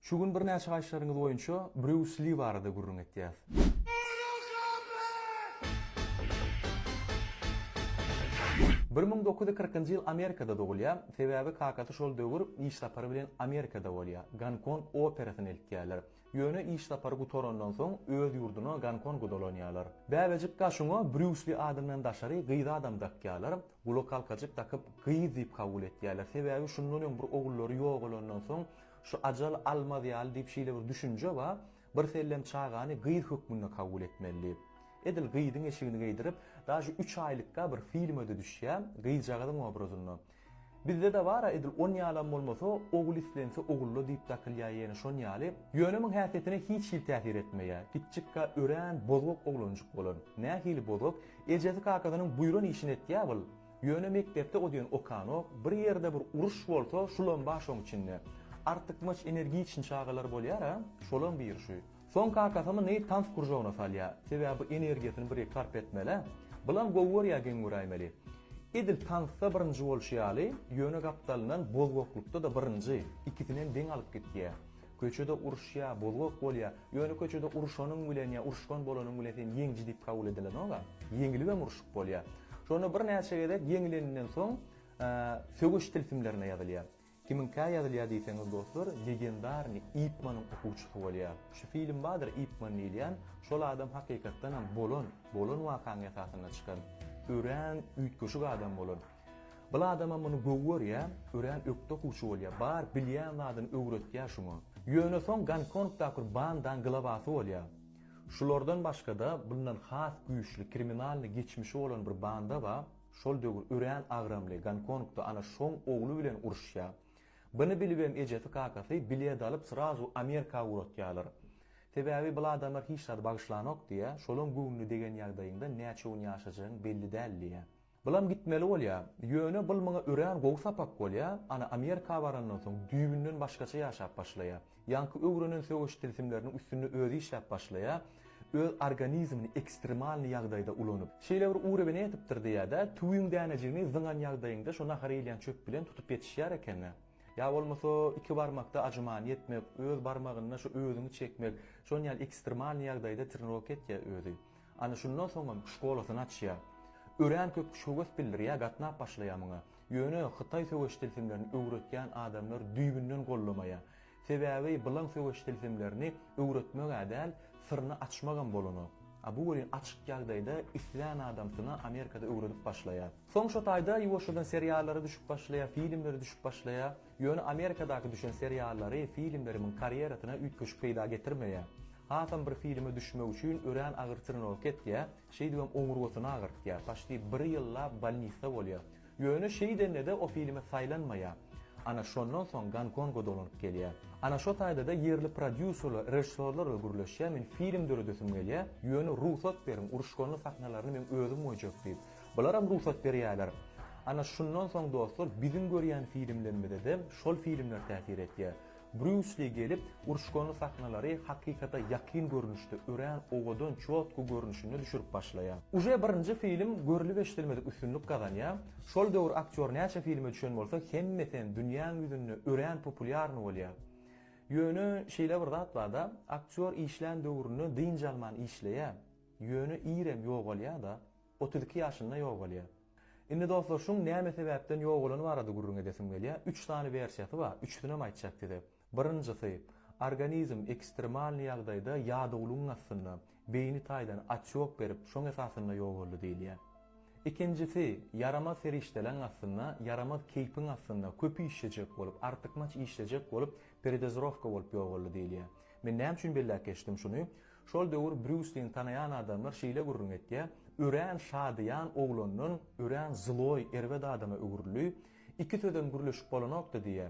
Şu gün birnäçe gaýyşlaryňyz boýunça Brýus Li barada gürrüň etýäs. Bir müň dokuz ýüz kyrkynjy ýyl Amerikada dogulýar, sebäbi kakasy şol döwür iş sapary bilen Amerikada bolýar. Gonkong operasyny eltýärler. Ýöne iş sapary gutarandan soň öz ýurduna Gonkonga dolanýarlar. Bäbejik gaşyňa Brýus Li adyndan daşary gyz adam dakýarlar. Gulakhalkajyk dakyp gyz diýip kabul etýärler. Sebäbi şundan öň bir ogullary ýogalandan soň şu ajal almaz ýaly diýip şeýle bir düşünje bar, birsellem çagany gyz hökmünde kabul etmeli diýip. Edil gyzyň eşigini geýdirip, daže üç aýlykka bir filme-de düşýär, gyzjagazyň obrazynda. Bizde-de bar-a edil on ýalam bolmasa, ogul islense ogulla diýip dakylýar ýene şon ýaly. Ýöne muň häsiýetine hiç hili täsir etmeýär. Kiçjikka örän bozgak oglanjyk bolan. Nähili bozgak, Ejesi kakasynyň buýran işini etýä ol, ýöne mekdepde o diýen okanok, bir ýerde bir uruş bolsa şulam bar şoň içinde. Artykmaç energiçny çagalar bolýar a, şolam biri şu. Soň kakasyny tans kuržogyna salýa, sebäbi energiýasyny bir sarp etmel-ä. Bulam gowy görýä geň göräýmeli. Edil tansda birinji bolşy ýaly, ýöne gapdalyndan bozgaklykda-da birinji, ikisinem deň alyp gitýä. Köçede uruşýar, bozgak bolýar. Ýöne köçede uruşanyň bilen ýa uruşgan bolanyň bilen sen ýeňiji diýip kabul edilenok-a. Ýeňilibem uruşyp bolýar. Şonda birnäçe gezek ýeňileninden soň söweş tilsimlerine ýazylýar. Kimiňkä ýazylýar diýseňiz dostlar, legendarnyý Ip Manyň okuwçysy bolýar. Şu film bardyr Ip Man diýilýän, şol adam hakykatdanam bolan, bolan wakanyň esasynda çykan örän üýtgeşik adam bolan. Bil adamam muny göw görýä, örän ökde okuwçy bolýa, bar bilýän zadyny öwretýä şuňa. Ýöne soň Gonkongdakur bandaň glawasy bolýa. Şulardan başgada bundan has güýçli kriminalny geçmişi bolan bir banda ba, şol döwür örän agramly, Gonkongda ana şoň ogly bilen uruşýa. Bny bilibem ejesi kakasy bilet alyp srazu Amerika ugratýalar. Sebäbi bil adamlar hiç zady bagyşlanok diýä, şolaň göwnüne degen ýagdaýyňda näçe gün ýaşajagyn belli däl diýä. Bulam gitmeli bolýa. Ýöne bul muňa örän gowy sapak bolýa, ana Amerika barandan soň düýbünden başgaça ýaşap başlaýa. Ýaňky öwrenen söweş tilsimleriniň üstünde özi işläp başlaýa, öz organizmini ekstremalny ýagdaýda ulanyp. Şeýle bir ury bine etipdir diýädä, tüwüň dänejigini zyňan ýagdaýyňda şo nahar iýilýän çöp bilen tutup ýetişýär ekeni. Ýa bolmasa iki barmakda ajymany etmek, öz barmagynda şo özüňi çekmek, şon ýaly ekstremalny ýagdaýda trenirowka etýä özi. Ana şundan soňam şkolasyny açýa. Örän köp şöwes bildirýä gatnap başlaýa muňa. Ýöne hytaý söweş tilsimlerini öwretýän adamlar düýbünden goldamaýa. Sebäbi bylaň söweş tilsimlerini öwretmegä däl syryny açmagam bolanok. A bu welin açyk ýagdaýda islän adamsyna Amerikada öwredip başlaýa. Soň şo taýda ýuwaşjadan seriallara düşüp başlaýa, filmlere düşüp başlaýa. Ýöne Amerikadaky düşen seriallary filmlerimiň karýerasyna üýtgeşik peýda getirmeýär. Hasam bir filme düşmek üçin örän agyr trenowka etýär, şeýdibem oňurgasyny agyrtýar, paçti bir ýyllap bolnisda bolýar. Ýöne şeýdende-de o filme saýlanmaýar. Ana şondan soň Gonkonga dolanyp gelýär. Ana şo taýda-da ýerli prodýuserler, režissýorlarla gürleşýär, men film döredesim gelýär, ýöne rugsat beriň, uruşganly sahnalaryny meň özüm goýjak diýip. Bularam rugsat berýärler. Ana şundan soň dostlar biziň görýän filmlerimizede şol filmler täsir etýär. Brýus Li gelip uruşgany sahnalary hakykata ýakyn görnüşde örän owadan çotky görnüşinde düşürip başlaýa. Uje birinji film görülip-eşidilmedik üstünlik gazanýa. Şol döwür aktýor näçe filme düşen bolsa hemmesem dünýäň ýüzünde örän populýarny bolýa. Ýöne şeýle bir zat barda aktýor işlän döwründe dynç alman işleýä. Ýöne irem ýogalýada. Otuz iki ýaşynda ýogalýar. Indi dostlar şuň näme sebäpden ýogalany barada gürrüň edesim gelýär. Üç sany wersiýasy bar. Üçüsinem aýtjak size. Birinjisi, organizm ekstremalnyý ýagdaýda ýadawlygyň astynda, beýni taýdan otçok berip, şoň esasynda ýogaldy diýilýär. Ikinjisi, ýaramaz serişdeleň astynda, ýaramaz keýpiň astynda, köp işlejek bolup, artykmaç işlejek bolup, peredozirowka bolup ýogaldy diýilýär. Men näme üçin belläp geçdim şuny? Şol döwür Brýuslini tanaýan adamlar şeýle gürrüň etýär, Örän şadyýan oglandan örän zloý, erbet adama öwrüldi. Iki sözem gürleşip bolanokdy diýýär.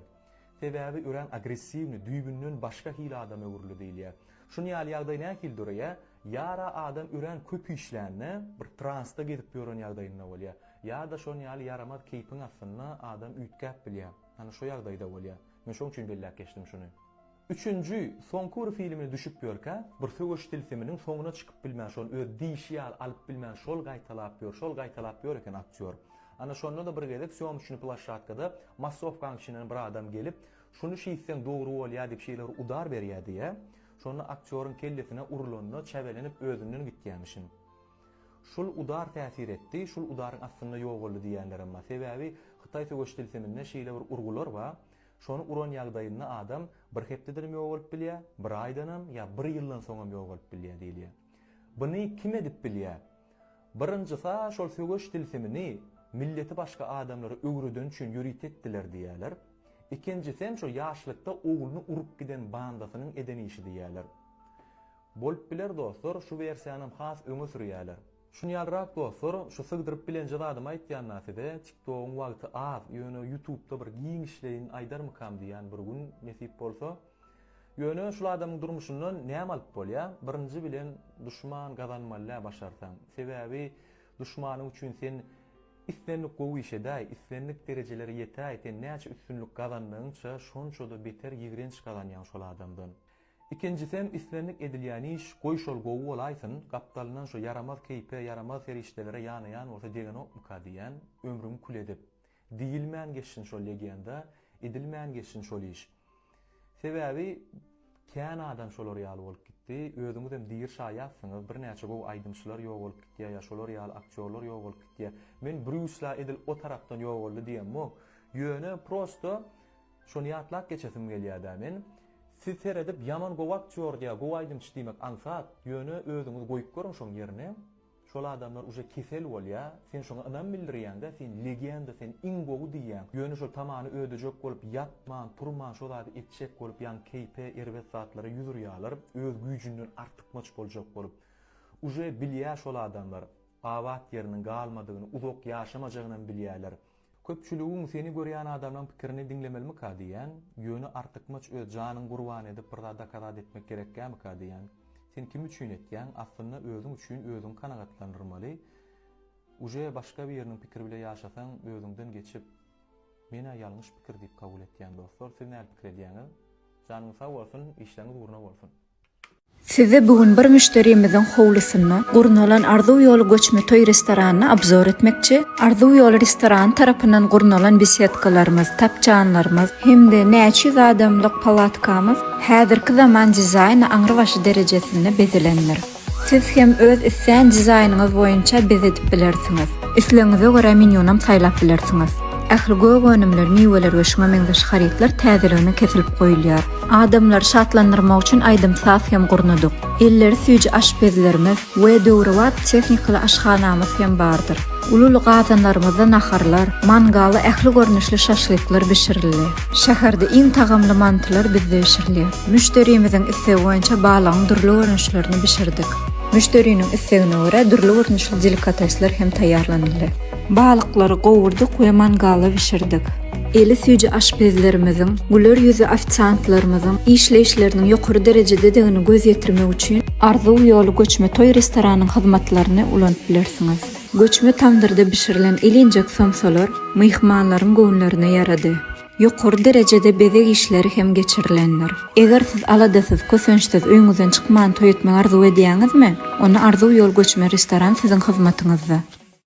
Sebäbi örän agressiwni, düýbünden başga hili adama öwrüldi diýilýär. Şuny ýaly ýagdaý nähili döreýär? Ýa-da adam örän köp işlände, bir transda gezip ýören ýagdaýynda bolýar. Ýa-da şon ýaly ýaramaz keýpiň astynda adam üýtgäp bilýär. Hany şo ýagdaýda bolýar. Men şoň üçin belläp geçdim şuny. Üçünji, soňky bir filmini düşüp ýörkä, bir söweş tilsiminiň soňuna çykyp bilmän, şony öz diýşi ýaly alyp bilmän şol gaýtalap ýör, şol gaýtalap ýör eken aktýor. Ana şonda-da bir gezek sýomçny plaşatkada massowkaň içinden bir adam gelip, Şuny şiýtseň dogry bolýa diýip şeýle bir udar berýä diýýä. Şonda aktýoryň kellesine urulanda çäbelenip özünden gitýämişin. Şul udar täsir etdi, şul udaryň astynda ýogaldy diýýänlerem bar. Sebäbi hytaý söweş tilsiminde şeýle bir urgular bar. Şony uran ýagdaýynda adam bir hepdedenem ýogalyp bilýär, bir aýdanam ýa bir ýyldan soňam ýogalyp bilýär diýilýär. Buny kim edip bilýär? Birinjis-ä şol söweş tilsimini milleti başga adamlara öwreden üçin ýörite etdiler diýýärler. Ikinjisem şo ýaşlykda ogluny urup giden bandasynyň eden işi diýýärler. Bolup biler dostlar, şu wersiýanam has öňe sürýärler. Şun ýalyrak dostlar şu sygdyryp bilenje zadymy aýtýanda size tiktogyň wagty az ýöne ýutubda bir giňişleýin aýdarmykam diýýän bir gün nesip bolsa. Ýöne şul adamyň durmuşyndan näme alyp bolýa birinji bilen duşman gazanmalydä başarsaň sebäbi duşmanyň üçin sen islendik gowy iş edäý islendik derejelere ýetäý sen näçe üstünlik gazandygyňça şonçada beter ýigrenç gazanýaň şol adamdan. Ikinjisem islendik edilýän iş, goý şol gowy bolaýsyn, gapdalyndan şu ýaramaz keýpe, ýaramaz serişdelere ýanaýan bolsa degenokmyka diýýän, ömrüňi kül edip. Diýilmän geçsin şol legenda, edilmän geçsin şol iş. Sebäbi kän adam şolar ýaly bolup gitdi, özüňizem diri şaýatsyňyz, birnäçe gowy aýdymçylar ýogalyp gitýär ýa şolar ýaly aktýorlar ýogalyp gitýär. Men Brýus la edil o tarapdan ýogaldy diýemok. Ýöne prosto. Şony ýatlap geçesim gelýädä men. Siz seredip ýaman gowy aktýord ýa gowy aýdymçy diýmek aňsat, ýöne özüňiz goýup görüň şoň ýerine. Şol adamlar uje kesel bolýa, sen şoňa ynam bildirýäňdä, sen legenda, sen iň gowy diýýäň, ýöne şol tamany ödejek bolup ýatman, turman şo zady etjek bolup ýaňy keýpe erbet zatlara ýüz urýalar, öz güýjünden artykmaç boljak bolup. Uje bilýä şol adamlar, abat ýeriniň galmadygyny, uzak ýaşamajagynam bilýäler. Köpçüligiň seni görýän adamlaň pikirini diňlemelmika diýýän, ýöne artykmaç öz janyň gurban edip bir zat dokazat etmek gerekkämika diýýän. Sen kim üçin etýäň, aslynda özüň üçin özüň kanagatlanyrmaly, uje başga biriniň pikiri bile ýaşasaň özüňden geçip menä ýalňyş pikir diýip kabul etýän dostlar siz näl pikir edýäňiz? Janyňyz sag bolsun, işleriňiz ugruna bolsun! Size bu gün bir müşderimiziň howlusynda gurnalan Arzuw ýoly göçme toý restoranyny obzor etmekçi. Arzuw ýoly restorany tarapyndan gurnalan besedkalarymyz, tapjanlarymyz hem-de näçe ýüz adamlyk palatkamyz häzirki zaman dizaýny aňrybaşy derejesinde bezelendir. Siz hem öz islän dizaýnyňyz boýunça bezedip bilersiňiz. Islegiňize görä menýunam saýlap bilersiňiz. Ähli gök önümler, miweler we şuňa meňzeş harytlar täzeligine kesilip goýulýar. Adamlary şatlandyrmak üçin aýdym-saz hem gurnadyk. Elleri süýji aşpezlerimiz we döwrebap tehnikaly aşhanamyz hem bardyr. Uly-uly gazanlarymyzda naharlar, mangalda ähli görnüşli şaşlyklar bişirildi. Şäherde iň tagamly mantylar bizde bişirilýär. Müşderimiziň islegi boýunça balygyň dürli görnüşlerini bişirdik. Müşderiniň islegine görä dürli görnüşli delikatesler hem taýýarlanyldy. Balyklary gowurdyk we mangalda bişirdik. Eli süýji aşpezlerimiziň, güler ýüzli ofisiantlarymyzyň işleýişleriniň ýokary derejededigini göz ýetirmek üçin Arzuw ýoly göçme toý restoranyň hyzmatlaryny ulanyp bilersiňiz. Göçme tamdyrda bişirilen ilinjek somsalar myhmanlaryň göwünlerine ýarady. Ýokary derejede bezeg işleri hem geçirilendir. Eger siz aladasyz, kösençsiz, öýüňizden çykman toý etmegi arzuw edýäňizmi? Onda Arzuw ýoly göçme restoran siziň hyzmatyňyzda.